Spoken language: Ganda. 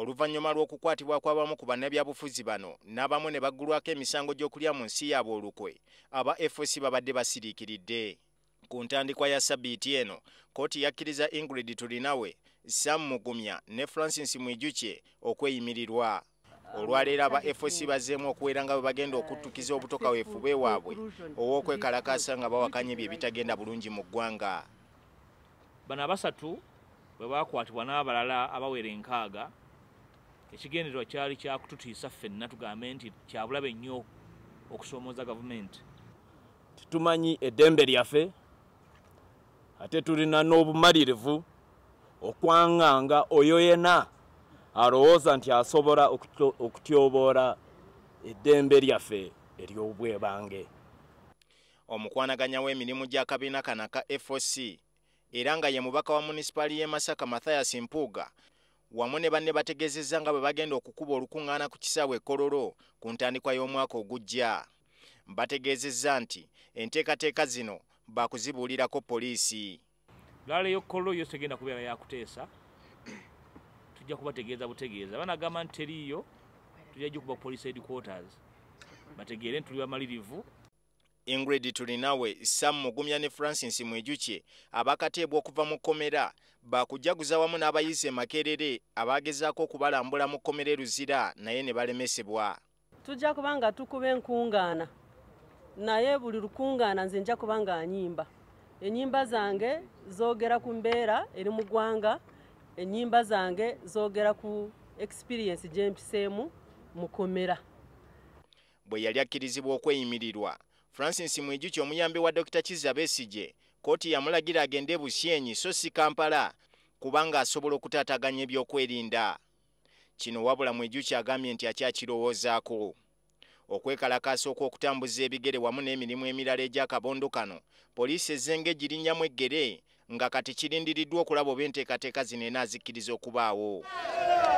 oluvannyuma lw'okukwatibwa kw'abamu ku bannabyabufuzi bano n'abamu ne baggulwako emisango gy'okulya mu nsi yaabwe olukwe aba fc babadde basiriikiridde ku ntandikwa ya sabiiti eno kkooti yakkiriza ingrid tulinawe sam mugumya ne francis mwijukye okweyimirirwa olwaleero aba fc bazzeemu okuwera nga bwe bagenda okuttukiza obutoka weefube waabwe ow'okwekalakaasa nga bawakanya ebyo ebitagenda bulungi mu ggwanga bano abasatu bwe baakwatibwa n'abalala abawera enkaaga ekigendererwa kyali kyakututiisa ffenna tugambe nti kyabulabe nnyo okusoomooza gavumenti tetumanyi eddembe lyaffe ate tulina n'obumalirivu okwanganga oyo yena alowooza nti asobola okutyoboola eddembe lyaffe ery'obwebange omukwanaganya w'emirimu gy'akabiina kano aka foc era nga ye mubaka wa munisipaali y'e masaka mathias mpuuga wamu ne banne bategeezezza nga bwe bagenda okukuba olukuŋŋaana ku kisaawe e kololo ku ntandikwa y'omwaka ogujja bategeezezza nti enteekateeka zino baakuzibuulirako poliisi laala eyokkollo yo tegenda kubeera yakuteesa tujja kubategeeza butegeeza banagamba nti teriiyo tujja gikuba police headquarters bategeere nti tuli bamalirivu ingrid tulinawe sam mugumya ne francis mwijukye abakateebwa okuva mu kkomera bakujaguza wamu n'abayizi emakerere abaagezaako okubalambula mu kkomera e luzira naye ne balemesebwa tujja kuba nga tukuba enkungaana naye buli lukungaana nze nja kuba nga anyimba enyimba zange zogera ku mbeera eri mu ggwanga enyimba zange zogera ku experiensi gyempiseemu mukomera bwe yali akkirizibwa okweyimirirwa francis mwijuki omuyambi wa dokita kizza besigye kkooti yamulagira agende e busyenyi so si kampala kubanga asobola okutaataganya ebyokwerinda Kino wabula Mwijuki agambye nti akyakirowoozaako. Okwekalakaasa okw'okutambuza ebigere wamu n'emirimu emirala egy'akabondo kano, poliisi ezze ng'egirinnyamu eggere nga kati kirindiriddwa okulaba oba enteekateeka zino enaazikkiriza okubaawo.